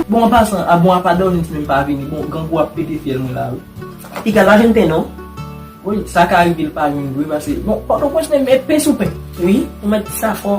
Bon an pasan, a bon a pa dòmi m si menm pa vini, bon grangou ap pete fyèl mwen la wi. Piga pa jwenn pen non. Wi, sa ka rive l pa jwenn vre pase bon pòtoprens menm e pen sou pen wi ou mèt di sa fò.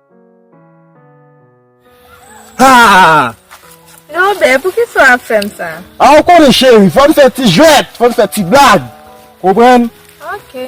Norbert poukisa wap fèm sa. Ah ou konnen chérie fòm fè ti jwèt fòm fè ti blag konprann. Ok.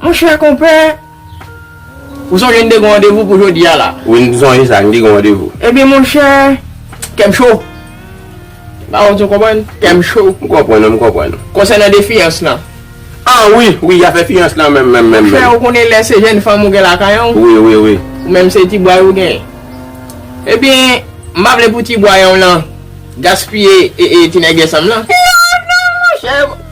Monchè konpè, ou sonje n te gen randevou pou jodi a la? Wi, m sonje sa, n te gen randevou. Ebyen monchè, kè m cho. Ba wont ou konprann? Kè m cho. M konprann ou, m konprann ou. Konsènan de fiyans lan. Ah wi, wi, y afè fiyans lan menm, menm, menm. Monchè, ou konnen lè se jenn fanm ou gen lakay an ou. Wi, wi, wi. Ou menm se ti bway ou gen. Ebyen, m pa vle pou ti bway an w lan gaspiye e e ti nègèsan m lan. Non, non monchè.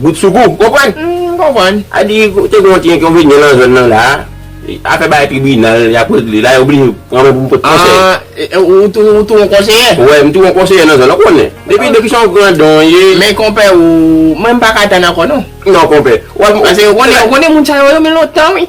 Bout sou kou. Konprann? M konprann. A di te gen yon ti enkonvenyan nan zòn nan la a. Afè bagay tribinal y ap regle la, yo oblije pran mwen pou m pot konsèy. Ah, ou tou ou tou yon konseyè? Wè, m tou yon konseyè nan zòn lan, ou konnen. Depi depi se yon grandon w ye. Men konpè ou, mwen m pa ka tann ankò non. Non konpè. Wap. Paske ou konnen ou konnen moun sa yo yo men lontan wi.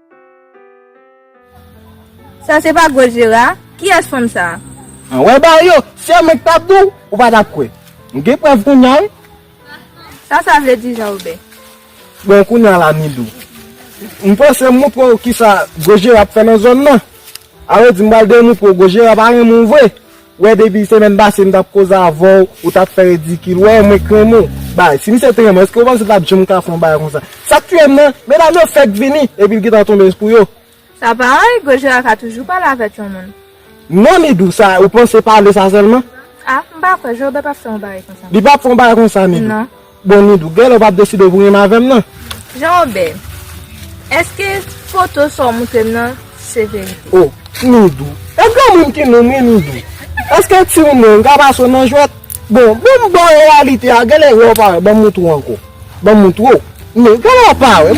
Sa se pa gwo jera? Kiyès fanm sa a? Anwè bagay yo! Se yo menm ki t ap di w, ou pa t ap kwè. M gen prèv kounya wi. Sa sa vle di Jan Woben? Bon kounya la Milou, m panse m montre w kisa gwo jera ap fè nan zòn nan. Alò di m pral demontre w gwo jera pa renmen w vre. Wè depi semèn pase m tap koze avèw ou tap fè ridikil wè mwen t renmen w bay si misye t renmen w eske ou panse l tap janm ka fè yon bagay konsa sak tuyem nan medam yo fèk vini epi l gentan tonbe sou yo. Sa pa anyen Gojira ka toujou pale avèk yon moun. Non Midou sa ou panse pale sa sèlman. Ah m pa kwè Jobe ap fè yon bagay konsa. Li pap fè yon bagay konsa Midou. Non. Bon Nidou, genlè ou pap deside pou renmen avèm nan? Jean Robert, eske foto sa w moutrem nan se verite? Oh Nidou, e granmoun ki noum wi Nidou, eske ti ou menm ka pase w nan jwèt? Bon, bon m baw reyalite a, genlè wè ou pa wè, banm moutre w ankò, banm moutre w, men genlè ou pa wè.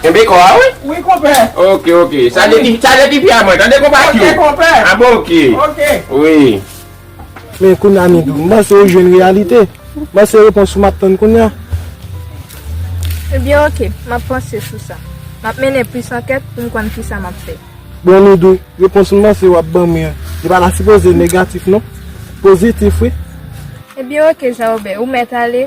Kenbe kò a wi. Wi konpè. Ok ok. Chaje ti chaje ti fia mwen tande konpa kyou. Ok konpè. A bon ok. Ok. Wi. Men kounye a Midou, m panse ou jwenn reyalite. M panse repons ou m ap tann kounye a. Ebyen ok, m ap panse sou sa. M ap mennen plis ankèt pou m konn kisa m ap fè. Bon Midou, repons m panse w ap ban mwen an, li pa ta sipoze negatif non. Pozitif wi. Ebyen ok Jaobè, ou mèt ale.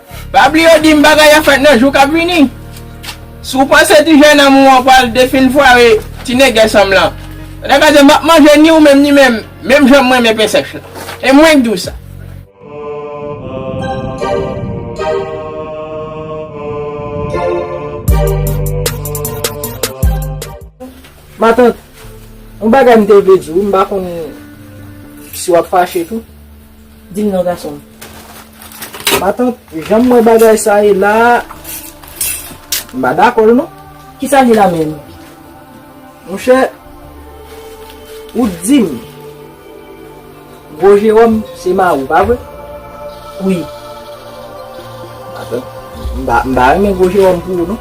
Pa bliye yo dim bagay ap fèt nan jou kap vini. Si w panse ti jenòm ou an pral defini fware ti nègès m lan, ou ta ka di map manje ni ou menm ni menm, menm jan m renmen pen sèch lan. E mwen k di w sa. Matant, yon bagay m te vle di w, m pa konn si wap fache tou. Dim non gasonm. Matant janm wè bagay sa ye la m pa dakol non. Kisa li la menm? Monchè ou t dim gwo Jeròm se mariw pa vre? Wi. Matant m pa renmen gwo Jeròm pou ou non.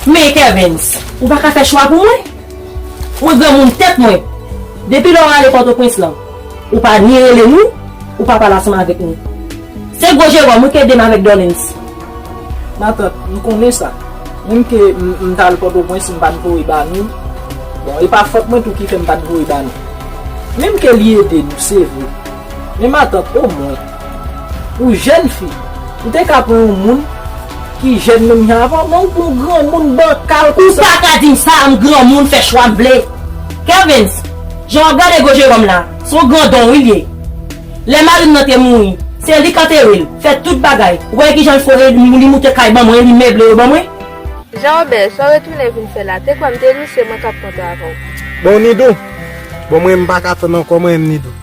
Men Kervens, ou pa ka fè chwa pou mwen? Mwen granmoun tèt mwen. Depi lè w ale Pòtoprens lan, ou pa ni rele nou, ou pa pale ansanm avèk nou. Se gwo Jeròm wi k ede m avèk Dòlens. Matant, m konnen sa. Menm ke m t al Pòtoprens m pa t voye ba nou. Bon, e pa fòt mwen tou ki fè m pa t voye ba nou. Menm ke li ede nou, se vre. Men matant, omwen. Pou jèn fi, ou te ka pran yon moun ki jèn menm jan avè w, men ou pran yon granmoun bankal konsa. Ou pa ka di m sa, m granmoun, m fè chwa m vle. Kervens, jan w ap gade gwo Jeròm la, se yon grandon wi l ye. Lè mari m nan te mouri, se li k antere l, fè tout bagay. Ou konnen ki jan l fò e li moute kay ban mwen, li meble yo ban mwen. Jean-Robert, sa w retounen vin fè la? Te kwè m te nou, se mwen k ap kontan avè w. Bon Nidou! Bon mwen m pa ka tann ankò mwen menm Nidou.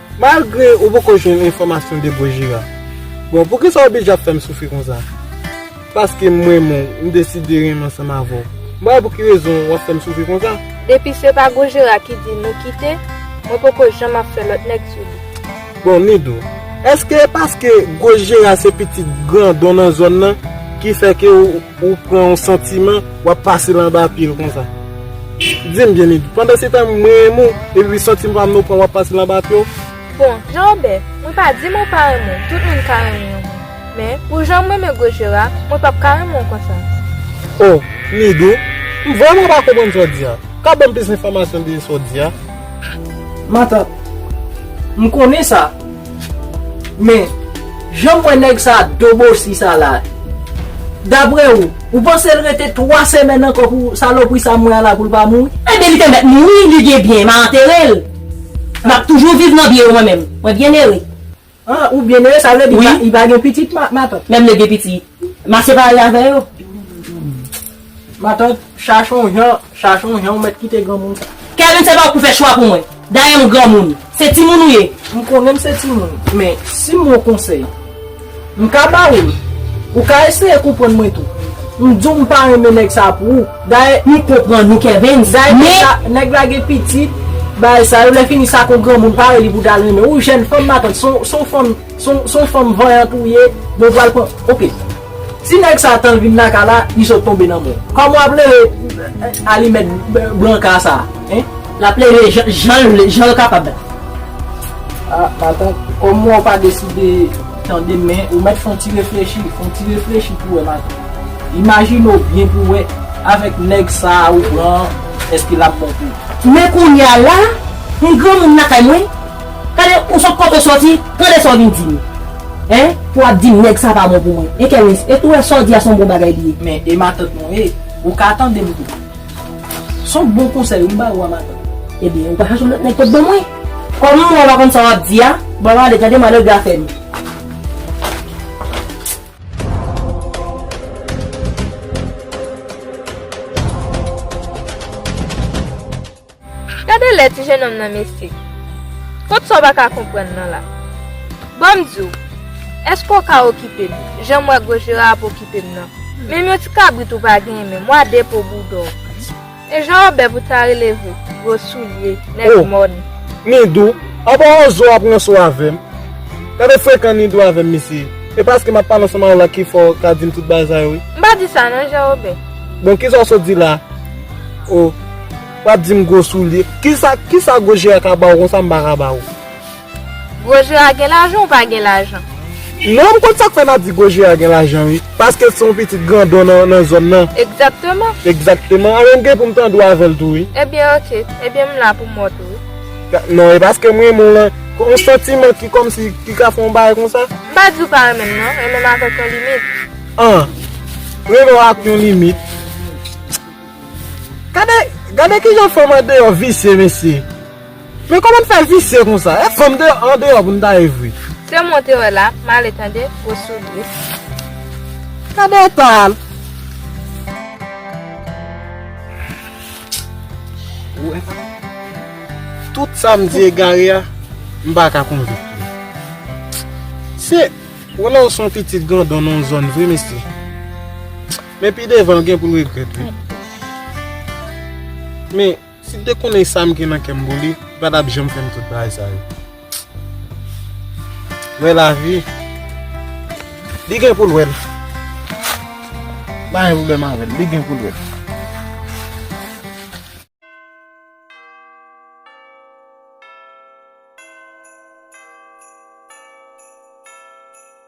Malgre ou poko jwenn enfòmasyon de Gojira. Bon poukisa ou bije ap fèm soufri konsa? Paske m renmen w, m deside renmen ansanm avè w. M pa wè pou ki rezon wap fèm soufri konsa. Depi se pa Gojira ki di nou kite, mwen poko janm ap fè lòt nèg sou li. Bon Nido, èske e paske Gojira se pitit grandon nan zòn nan ki fè ke ou. Ou pran yon santiman, wap pase l anba pye l konsa. Di m byen Edy, pandan se tan m renmen w, epi santiman pa m nan w pran wap pase l anba pye w? Bon, Jean Robert, mwen pa di mwen pa renmen w, tout moun ka renmen yon moun. Men, pou jan m renmen gwo je w la, mwen pap ka renmen w konsa. O, Midou, m vrèman pa konprann sa w di a. Ka ban m plis enfòmasyon de sa w di a? Matant, M konnen sa. Men, janm wè nèg sa dobosi sa la. Daprè ou, ou panse l rete 3 semèn ankò pou salopri sa mwen an la pou l pa mouri? Ebyen li te mèt mouri, li gen byen, m a antere l. M ap toujou viv nan byen yo mwen menm. Mwen byenere. Ah, ou byenere, sa vle di li pa gen pitit matant? Menm lè l gen pitit. Ma separe avè yo. Matant, chache yon jan, chache yon jan ou mèt kite granmoun sa. Kevin se pa ou ki fè chwa pou mwen. Dayè m granmoun. Se timoun ou ye. M konnen m se timoun. Men, si m yon konsèy. M ka ba ou l. Ou ka eseye konprann mwen tou. M di w m pa renmen nèg sa pou ou. Dayè. M konprann ou Kevin. Dayè nèg la, nèg la gen pitit, bagay sa yo. Lè fini sa kon granmoun pare li pou ta renmen. Ou jèn fanm matant. Se yon fanm. Son fanm vanyant ou ye, mwen pral pran, ok. Ti nèg sa tan vin lakay la, li sot tonbe nan mwen. Kòman wap leve alimèt branka sa, hein? Lap leve janl vle, janl kapab la. A, matant, kòm wè ou pa deside tande men, ou mèt fon ti reflechi, fon ti reflechi pou wè matant. Imajine ou byen pou wè, avèk nèg sa ou pran an, èske lap bon pou ou? Men kounya la, m granmoun lakay mwen, Tande ou sot kote w soti, tande sa w vin di m. Hein pou ap di m nèg sa pa bon pou mwen. Hein Kerens, e tou wè sa w di a son bon bagay li ye. Men e matant mwen e, ou ka tande m tou. Son bon konsèy ou m ba ou a matant. Ebyen ou pa chache yon lòt nèg pot ban mwen. Kòm m wè w pa konn sa w ap di a, bon w ale tande malè gwa fè m. Gade lè ti jenòm nan mesye. Kot sa w pa ka konprann nan la? Ban m di w, èske w ka okipe m, jan m wè gwo jera ap okipe m nan? Menm yon ti kabrit ou pa genyen menm, w a de po boudon w. E jan w bèv ou ta rele vre, gwo soulye, nèg mòn. O! Nido, aba w zo w ap ranse w avè m. Gade frekan Nido avè m mesye. E paske m ap pale ansanm avè w la ki fè w ka di m tout bagay sa yo wi. M pa di sa non Jan Wobè. Bon, ki sa w sot di la a? O! Wap dim gwo soulye. Kisa kisa gwo jera ka baw konsa m pa ka baw. Gwo jera gen lajan ou pa gen lajan. Non m konn sak fè nap di gwo jera gen lajan wi. Paskel se yon pitit grandon nan zòn nan. Egzakteman. Egzakteman anben m gen poum tande w avèl tou wi. Ebyen ok. Ebyen m la poum wont ou wi. Non e paskem renmen w lan. Yon santiman ki kòmsi ki ka fè yon bagay konsa. M pa diw pa renmenm non. Renmenm avèk yon limit. An. Renmenw ak yon limit. Gade gade kijan fanm andeyò visye mesye Men kòman n fè visye konsa e fanm deyò andeyò pou n ta ye vre. Sew monte wè la male tande gwo soulye. Gade eta l. Ou wè sa Tout sa m di egare a m pa ka konvenk li Se Wè lè w son pitit grandon nan yon zòn vre mesye. Men pi devan l gen pou l regrèt wi. Men, si l te konnen sa m gen nan kè m pou li, li pa t ap janm fè m tout bagay sa yo. Wè lavi, li gen pou l wè l. M pa gen pwoblèm avè l, li gen pou l wè l.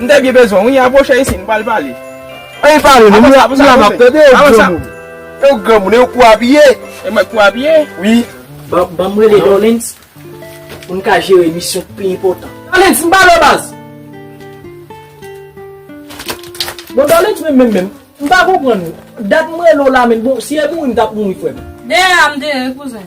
M te byen bezwen wi, apwoche isi, m pral pale. Anyn pale non, m la map tande, e w granmoun. E w granmoun, e w kou abiye. E mwen kou abiye? Wi. Banm rele Dollens pou n ka jere misyon k pi enpòtan. Dollens, m pale w baz. Bon Dollens menm menm menm, m pa konprann ou. Dat m rele w la menm, bon si e mouri m tap mouri frè m. Deyè a m deyè wi kouzen.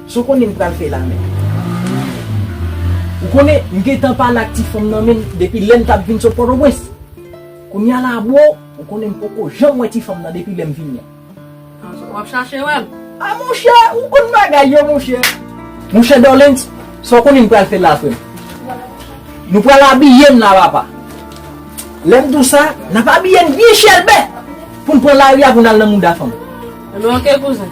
Sa w konnen m pral fè la menm? Ou konnen m gentan pale ak ti fanm nan menm depi lè m t ap vin sot Pòtoprens. Kounye a la bro, ou konnen m poko janm wè ti fanm nan depi lè m vin la. W ap chache wè l? A monchè, ou konn bagay yo monchè. Monchè Dòlens, sa w konnen m pral fè la frè m? Nou pral abiye n la papa. Lè m di w sa, n ap abiye n byen chèlbè pou n pran lari a pou n al nan mouda fanm. Ebyen ok kouzen.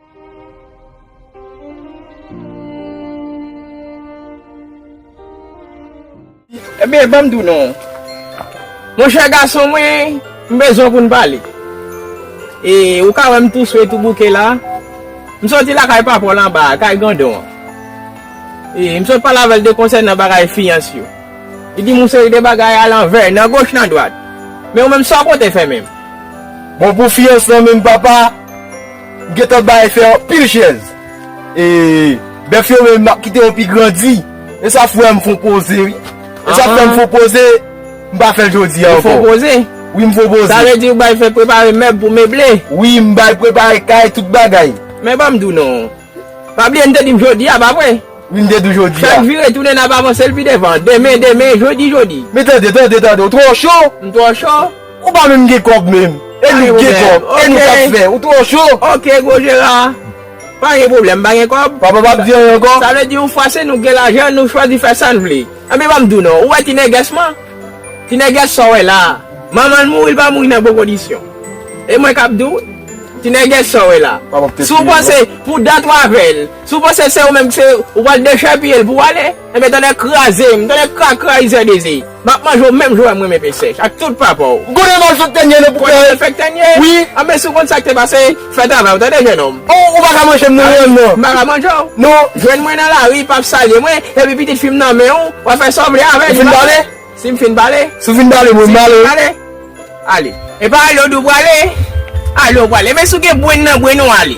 Ebyen banm diw non Monchè gason mwen m bezwen w pou n pale E ou ka wè m tou swe tou bouke la M soti lakay papa w lan ba a kay grandon an E m sot pale avè l de konsènan bagay fiyans yo Li di m yon seri de bagay a lanvè nan goch nan dwat Men ou menm sa w pote fè menm Bon pou fiyans lan menm papa? M gentan bay fè anpil chèz. E bèf yo menm map kite yo pi grandi. E sa fwèm fon poze wi. E sa fwèm fon poze. M pa fèl jodi a ankò. Ou fon poze? Wi m fon poze. Sa vle di ou bay fè prepare mèb pou meble? Wi m bay prepare kay tout bagay. Men banm di w non. Pa bliye n te di m jodi a pa vre? Wi m te di w jodi a. Fè n vire tounen nap avanse l pi devan. Demen demen jodi jodi. Men tande tande tande ou twò cho. M twò cho? Ou pa menm gen kòb menm. E nou gen kòb. E nou kap fè. Ou twò cho. Ok gwo jera. Pa gen pwoblèm. Pa gen kòb. Papa pap di anyen ankò. Sa vle di yon fwa se nou gen lajan nou chwazi fè sa n vle. Anben banm di w non. Ou wè ti nègès man. Ti nègès sa w wè la a. Manman l mouri l pa mouri nan bon kondisyon. E mwen kap di w. Ti nègès sa w wè la a. Si w panse pou dat w avè l. Si w panse se ou menm ki se ou pral dechèpiye l pou w ale. Enben tonnè kraze m, tonnè krakra rizè dezi, m ap manje w menm jan w wè m renmen pen sèch ak tout papa w. Konnen m al fè tènye nan poubèl. Konnen m al fè tènye? Wi. Anben si w konn sa k te pase, fè travay w tande jennonm. Oh ou pa ka manje m non menm non. M pa ka manje w? Non. Jwenn mwen nan lari, pa salye mwen, epi pitit fi m nan men w, w ap fè sa w vle avè l. Ou fin pale? Si m fin pale? Si w fin pale mwen pale wi. Si w fin pale? Ale. E pa ale w di w prale? Ale w prale. Enben si w gen brenn nan brenn ou ale.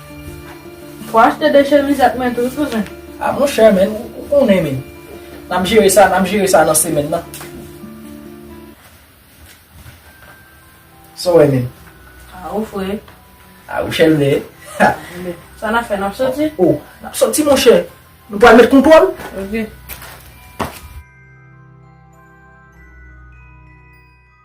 Fwa achte de chemiz ak men tou kouzen. Ah monchè men ou konnen men nap jere sa nap jere sa nan semèn nan. Saw wè menm. Ah ou fre. Ah ou chèlbè. Sa nap fè nap soti? Oh nap soti monchè. Nou pwal met kontwòl? Ok.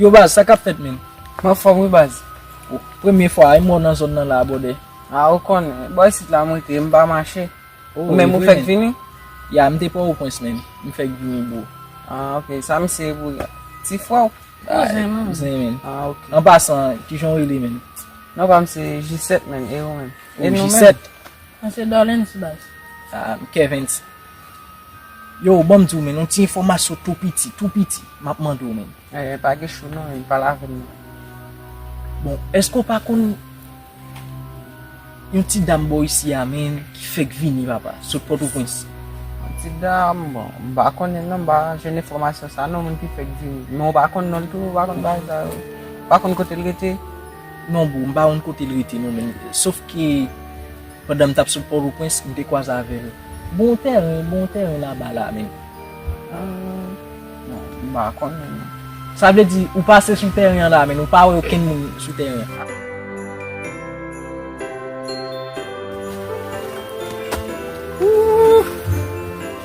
Yo baz sa kap fèt menm? M anfòm wi baz. Premye fwa a, e mwen w nan zòn nan la a bwòdè? A ou konnen, bò isit la m rete, m pa mache. Ou menm ou fèk vini? Ya, m te Pòwopwens menm, m fèk vini bro. A ok, sa misye ye pou ou la? Ti frè w? Kouzen menm. Kouzen menm. A ok. An pasan, kijan w rele menm? Non pa m se Jisèt menm, e ou menm? Ou Jisèt? Mwen se Dorlens baz. Ah m Kervens. Yo w banm di w men yon ti enfomasyon tou piti, tou piti map mande w men. Eh pa gen chou non men pale avem non. Bon eske w pa konn yon ti dam bò isi a men ki fek vini papa sot potoprens. Yon ti dam bon m pa konnen non m pa jwenn enfomasyon sa non moun ki fek vini. Men w pa konn non l tou w pa konn bagay sa yo. W pa konn kote l rete. Non boo, m pa konn kote l rete non men sof ke pandan m t ap sot Pòtoprens m te kwaze avè l. Bon tèren, bon tèren laba la men. Bon, m pa konn men. Sa vle di ou pase sou tèren an la men ou pa wè okenn moun sou tèren an? Ooh!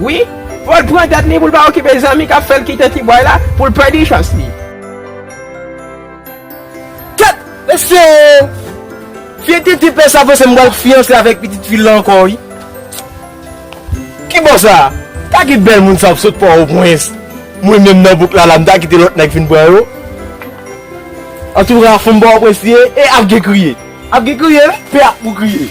Wi, fòl pran tèt li poul pa okipe zanmi kap fèl kite ti bway la poul pèdi chans li. Kèt mesye oo fye titi pè sa panse m pral fiyanse avèk pitit fil la ankò wi kibò sa ta ki bèl moun sa ap sot pò o pwens mwen menm nan bouk la la m ta kite lòt nèg vin pran yo antouka fanm pò o pwens li ye e ap gen kriye ap gen kriye wi pè a pou kriye.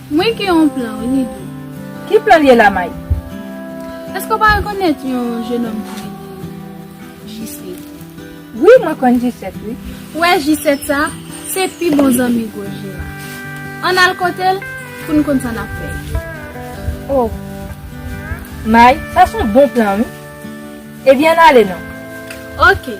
Mwen gen yon plan wi Nido. Ki plan l ye la Mike? Èske w pa rekonèt yon jenòm ki rele Jisèt? Wi mwen konn Jisèt wi. Ou wè Jisèt sa a? Se pi bon zanmi gwo je a. An n al kote l pou n konn sa n ap fè. O! Mike, sa s on bon plan wi. Ebyen an n ale non. Oke.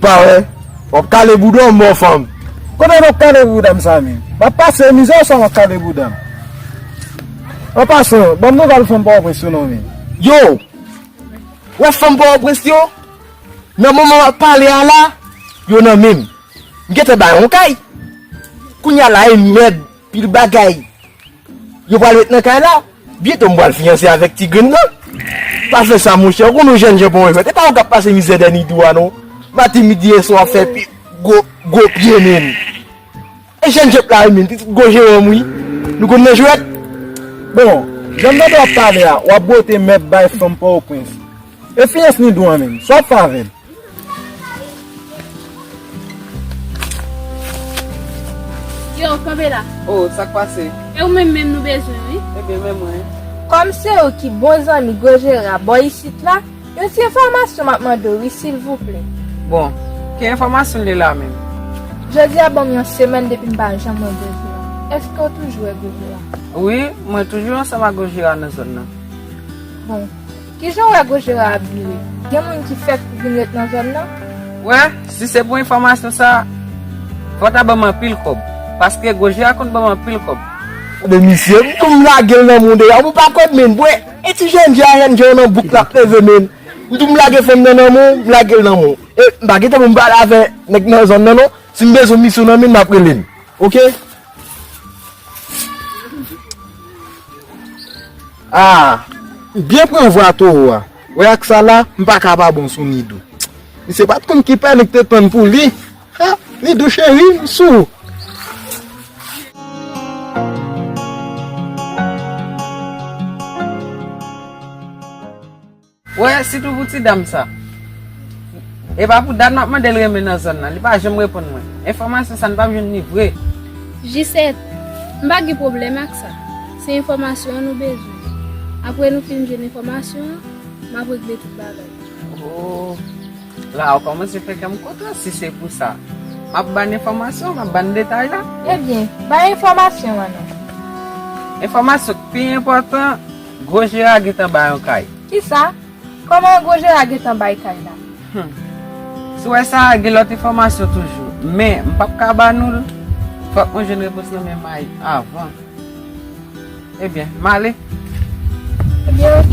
Pare, wap kale bouda mò fanm. Kote wap kale bouda m sa menm. Wap pase mizè ou sa wap kale bouda m. An pasan, banm nouvel fanm pòtoprens yo non menm. Yo! Wè fanm pòtoprens yo? Nan moman wap pale a la, yo nan menm. M gentan bay yon kay. Kounya la e mèd pil bagay. Yo pral met nan kay la. Byento m pral fiyanse avèk ti grenn nan. Pa fè sa monchè, ou konn yon jènjan pa yon jwèt. E pa ou kap pase mizè dèni dwa non. Maten, midi e swa wap fè pi gwo gwo pye menn. E jèn jèp la rinmin pitit gwo Jérôme wi. Nou konn nan jwèt. Bon, janm tande wap pale a, wap bwote mèt bay fanm Port-au-Prince. E fiyans Nidou an menm, sa wap fè avèl? Yo, kanpe la. Oh, sak pase? E ou menm menm nou bezwen wi. Ebyen men mwen. Kòm se ou ki bon zanmi gwo Jera bò isit la. Yon ti enfòmasyon map mande w wi silvouplè. Bon, ki enfòmasyon li la menm? Jodi a banm yon semèn depi m pa janm wè Gojira. Eske w toujou wè Gojira? Wi, mwen toujou ansanm ak Gojira nan zòn nan. Bon, kijan w wè Gojira ap vire? Gen moun ki fèk vin ret nan zòn nan? Wè, si se pou enfòmasyon sa, fò w ta banm anpil kòb. Paske Gojira konn banm anpil kòb. Tande misye, m tou m lage l nan mou deja. Ou pa konn menm, bwè! E ti jènje a renmn genw nan bouk lap leve men m tou m lage fanm nan nan menw m lagel nan menw e m pa gentan pou m pale avè nèg nan zòn nan non si m bezwen misyon nan menl map relel ok ah m byen pran vwa toro a wè ak sa la m paka pa bon sou Nido misye pat konn ki pè li k te tann pou li. Ah Midou cheri m sou ou. Wè sitou pou ti dam sa. E pa pou dat map mandel renmen nan zòn nan. Li pa janm reponn mwen. Enfòmasyon sa nou pap jwenn li vre. Jisèt, M pa gen pwoblèm ak sa. Se enfòmasyon an nou bezwen. Apre nou fin jwenn enfòmasyon an, map regle tout bagay. Ohh. La ou komanse fè kèm kontan si se pou sa map bann enfòmasyon map bann detay la. Ebyen bay enfòmasyon an non. Enfòmasyon k pi enpòtan gwo jera gentan bay yon kay. Kisa? Kòman gwo jera gentan bay kay la? Hum sou wè sa gen lòt enfòmasyon toujou men m pap ka ba nou l fòk mwen jwenn repons nan men Mayi avan ebyen m ale. Ebyen ok.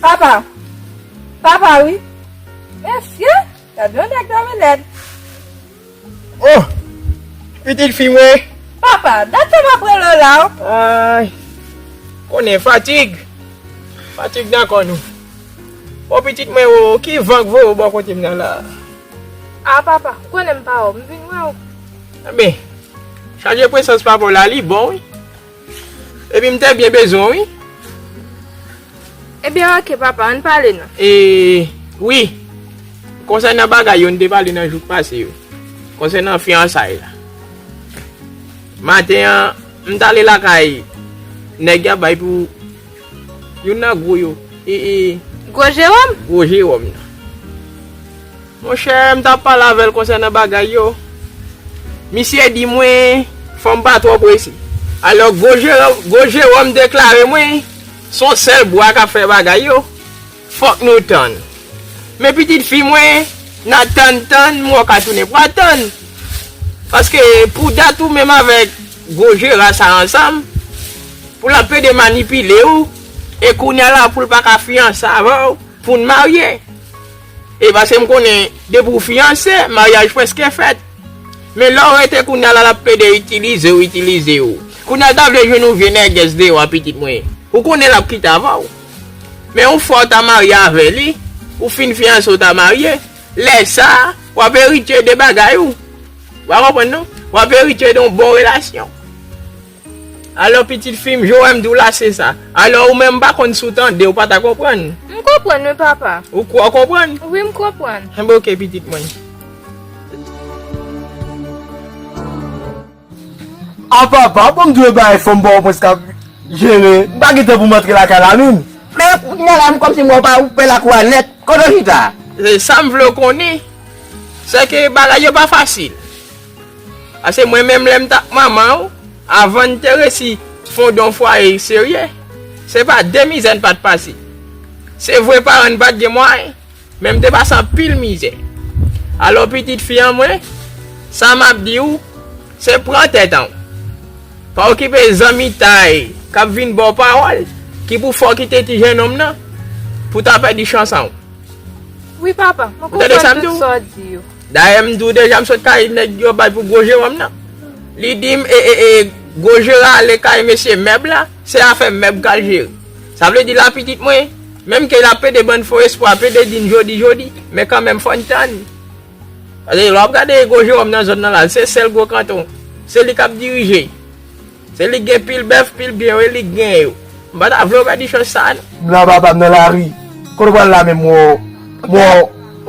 Papa! Papa wi! Mesye! Gad yon nèg dòmi lèd! Oh! Pitit fi mwen! Papa, dat sa m ap rele w la w! Ay! Konnen fatig! Fatig nan kò nou! Bon pitit mwen o, ki van k voye w bò kote m nan la a? Ah papa, ou konnen m pa wè w, m vin wè w! Enben, chaje presans papa w la, li bon wi! Epi m te byen bezwen w wi. Ebyen ok papa, ann pale nan. E, wi. Konsènan bagay yo n te pale nan jou k pase yo. Konsènan fiyansay la. Maten an, m t ale lakay nèg y ap bay pou youn nan gwo yo. E, e. Gwo Jewòm? Gwo Jewòm nan. Mon chè, m t ap pale avè l konsènan bagay yo. Misye di mwen fò m pa twò prese. Alò, gwo Jewòm deklare mwen, S on sèl bwa k ap fè bagay yo. Fòk nou tann. Men pitit fi mwen, n a tann tann, mwen ka tounen pa tann. Paske pou dat ou menm avèk gwo Jera sa ansanm, pou l ap plede manipile ou, e kounye a la pou l pa ka fiyanse avè w, pou n marye. E paske m konnen depi w fiyanse, maryaj prèske fèt. Men lè w rete kounya la l ap plede itilize w, itilize w. Kounya l ta vle jwenn yon vye nègès deyò a pitit mwen. Ou konnen l ap kite avan w. Men yon fwa w ta marye avè li, ou fin fiyanse w ta marye, lè sa a, w ap eritye de bagay ou. Ou pa konprann non. W ap eritye de yon bon relasyon. Alò pitit fi m, Joèm di w la se sa. Alò ou menm m pa konn si w tande, ou pa ta konprann. M konprann wi papa. Ou kwè w konprann? Wi m konprann. Enben ok pitit mwen. A papa, bon m di w e bagay fò m ba w mwen sa pou m jere. M pa gen tan pou m antre lakay la menm. Men kounye la m kòm si m wè w pa ou pè lakou a nèt. Kote w chita a? Sa m vle w konnen, se ke bagay yo pa fasil. Pase mwen menm lèm tap manmanw avann te resi fondon fwaye serye se pa de mizè n pat pase se vre paran n pat gen mwayen men m te pase anpil mizè alò pitit fi an mwen sa map diw se pran tèt an pa okipe zanmitay kap vin baw pawòl ki pou fè w kite ti jenòm nan pou ta pèdi chans an ou tande sa m diw. Dayè m di w deja m sot kay nèg yo bay pou gwo Jewòm nan. Li di m e e e gwo jera ale kay mesye mèb la, se afè mèb k al jere. Sa vle di la pitit mwen, menm ke l ap pede ban n fo espwa, pede di n jodi jodi, men kanmenm fò n tann. Paske lè w ap gade gwo Jewòm nan zòn nan la, se sèl gwo kanton, se li k ap dirije. Se li gen pil bèf pil byen wi li gen yo. M pa ta vle w pèdi chans sa a non. M la papa m nan lari. Kote w pral la menm woo.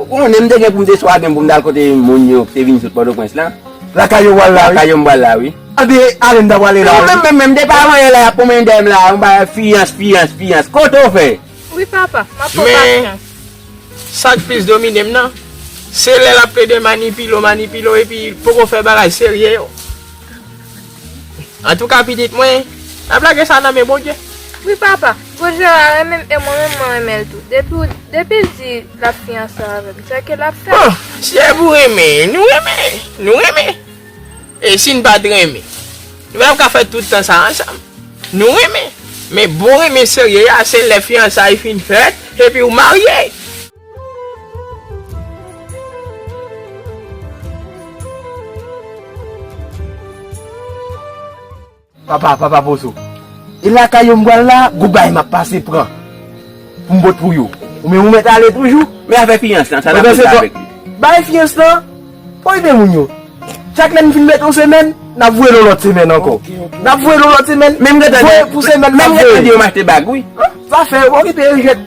Ou konnen m te gen pou m te swagen m pou m t al kote moun yo ki te vin sot Pòtoprens lan. Lakay yo w al la wi. Lakay yo m pral la wi. An de ale m ta prale la wi. Menm menm menm m te pa vanyan lè y ap pwonmennen dèyè m la a. M pa fiyans fiyans fiyans. Kote w fè? Wi papa. M ap pran pasyans. Men sa k plis domine m nan. Se lè l ap plede manipile w manipile w epi poko fè bagay serye yo. Antouka pitit mwen, ap lage sa nan men Bondye. Wi papa, gwo je a renmen m e mwen menm mwen renmen l tou. Depi w, depi l di l ap fiyanse avè m, sèke l ap fè l. Bon, si e pou renmen, nou renmen, nou renmen. E si n pa t renmen? Nou pa t ap ka fè tout tan sa ansanm. Nou renmen, men bon renmen serye a se lè fiyansay fin fèt epi ou marye. Papa, papa pozo, e lakay yo m pral la, gwo bagay m ap pase pran pou m pot pou yo. Ou menm ou mèt ale toujou? Men afè fiyans lan, sa n ap fè avèk li? Bay fiyans lan pou ede moun yo. Chak lè n fin mèt yon semèn, n ap voye l yon lòt semèn ankò. N ap voye l yon lòt semèn, voye pou semèn nan. Menm gen tan di yo m achte bag wi. Zafè yo, okipe yo jwèt.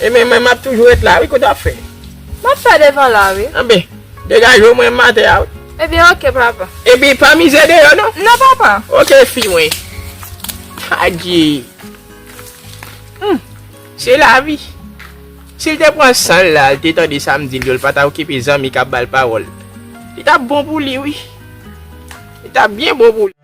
Ebyen mwen map toujou ret la wi kote wap fè. Map fè devan la wi. Anben degaje w mwen m atè a wi. Ebyen ok papa. Epi pa mize deyò non. Non papa. Ok fi mwen. Adye. Humm se lavi. Sil te pran sanl la al te tande sam dil yo l pata okipe zanmi kap bal pawòl. Li tap bon pou li wi. Li tap byen bon pou li.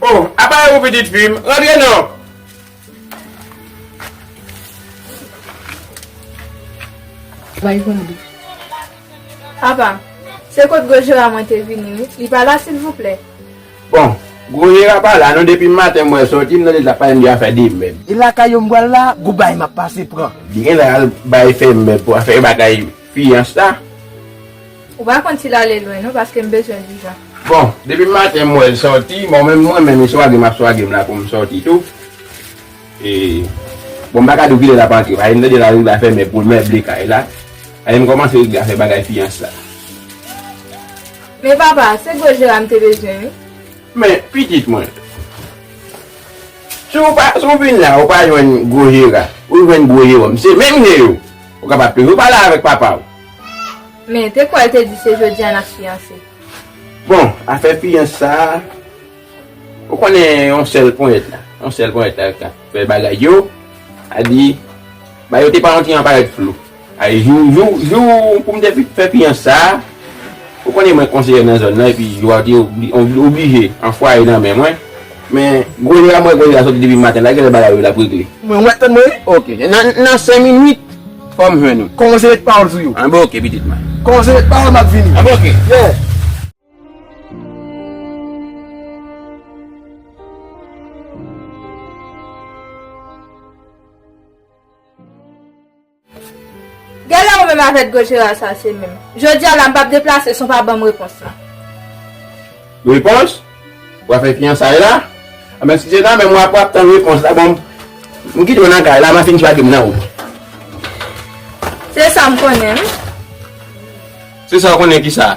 Oh, apa e ou pitit fi m? Rantre non! Bay gade. Apa, se kot Gojira mwen te vini wi. Li pa la silvouplè? Bon gwo Jera pa la non depim maten mwen soti m nan leta pay m gen afè demen. E lakay yo m bwal la gou bay map pase pran. Li genlè al bay fèmen pou afè bagay fiyans la. Ou pa konn sil ale lwen non paske m bezwen dijan. Bon depim maten m wèl soti bon menm mwen menm li swage map swage m la poum soti tou. Bon m pa ka di w kilè l ap antre paske m tande l ap rive al fèmen pou l meble kay la. Paske m kòmanse regle afè bagay fiyans la. Men papa, se gwo jera m te bezwen wi. Men pitit mwen, si w vin la ou pa jwenn gwo jera, ou jwenn gwo Jewòm, se menm je yo, ou kapab toujou pale avèk papa w. Men te kwè l te di se jodi a n ap fiyanse. Bon, afè fiyans sa a. Ou konnen yon sèl ponyèt la. Yon sèl ponyèt la kap fè bagay yo. A di, ba yo te pa yon ti jan parèt flou. A di jou, jou, jou pou m te fin fè fiyans sa a, ou konnen mwen konseyè nan zòn nan epi jou a te oblije an fwaye nan men mwen. Men, gwo lè a m wè gwo lè a sòti depi maten la, gen lè bagay yo l ap regle. Mwen wè, tann mwen wi. Oke. Nan sen minit, fò m jwenn ou. Kòman w se met pawòl sou yo? Anben oke pitit mwen. Kòman w se met pawòl m ap vini. Anben oke. Yè. Genlè ou menm avèk Gojeral sa se menm. Jodi a la m pap deplase si w pa ban m repons la. Repons? Ou pa fè fiyansay la? A men si se nan men m w ap tann repons la bon m kite w nan kay la m ap fin swagen m nan ou. Se sa m konnen wi. Se sa w konnen kisa?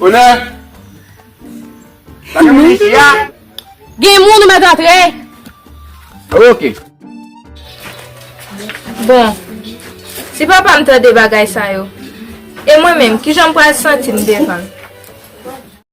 Onè! Sa gen moun isi a? Gen moun ou mèt antre! Ok. Bon, si papa m tande bagay sa yo, e mwen menm, kijan m pral santi m devan l?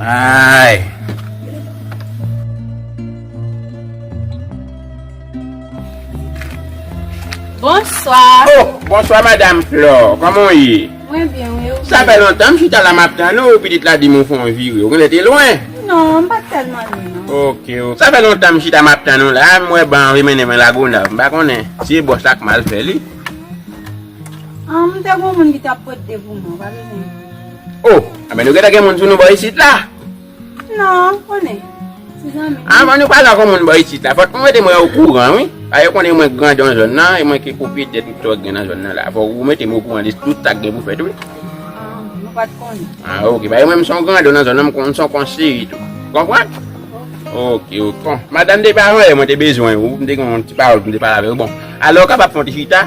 Ayy. Bonswa. Oh bonswa madam Flore, koman w ye? Mwen byen wi, ou menm? Sa fè lontan m chita la map tann ou, pitit la di m ou fon vire, ou konnen te lwen? Non, m pat tèlman lwen non. Ok ok, sa fè lontan m chita map tann ou la, m wè ban an vle mennen mwen Lagonav, m pa konnen si e bòs la k mal fè li. Humm te gon moun ki tap pot de pou mwen ou pa bezwen di. Oh anben nou gentan gen moun sou nou bò isit la. Non konnen ti zanmi m. Anvan nou pale ak yon moun bò isit la fòk nou mete mwen o kouran wi. Paske yo konnen mwen grandon zòn nan e mwen ki pwopriyetè tout sa ki gen nan zòn nan la. Fòk ou mete m o kouran de tout sa ki gen pou fèt wi. Ahh mwen pat konnen. Ah ok paske mwen m son grandon nan zòn nan m konn m son konseye tou. Ou konprann? Ok ok. Bon madanm depi avan yè mwen te bezwen ou m te gen yon ti pawòl pou m te pale avè ou bon. Alò ou kapab fè yon ti chita?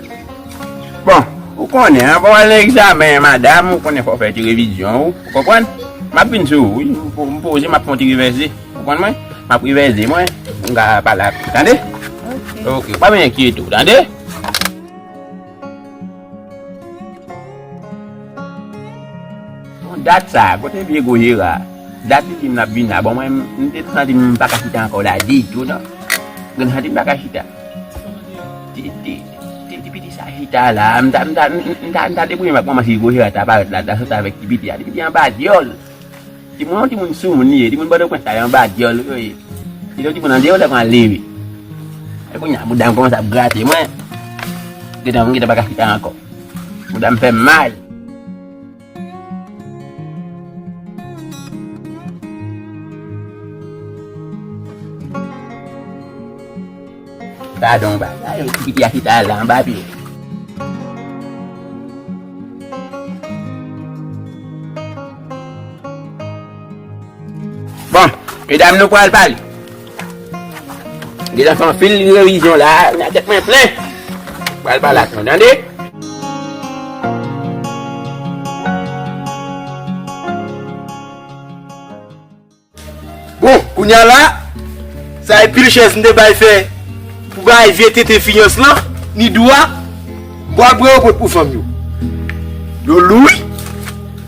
Bon, ou konnen, anvan w al nan egzamen, madam, ou konnen fò w fè ti revizyon ou. Ou konprann? M ap vin sou ou wi. M poze, m ap fè yon ti revèze. Ou konprann mwen? M ap revèze mwen pou m ka pale ak ou. Tande? Ok. Pa vin enkyete ou. Tande? Bon, dat sa, kote vye gwo Jera a? Dat li di m l ap vin la. Bon, mwen, m te santi m pa ka chita ankò la ditou non. M te santi m pa ka chita. Ti piti sa chita la, m ta debouye m ak manman si Gojira ta parèt la, l ta sòti avèk ti piti a. Ti piti a anba dyòl. Timoun an timoun soumoun li ye, timoun Pòtoprens sa yo anba dyòl yo ye. Li te yon timoun andeyò lè pral leve. E kounye a bouda m kòmanse ap grate mwen. Gentan m gentan pa ka chita ankò. Bouda m fè m mal. Gadon bagay yon ti piti a chita la anba pye. Bon medam nou pral pale. Deja fè anpil revizyon la, nan tèt mwen plen. Pral pale ak nou, tande. Kounya la, sa e pil chèz m te bay fè pou bay vye tete fiyans lan, ni dwa, bwa bwa yo pot pou fanm yo. Yo lou wi.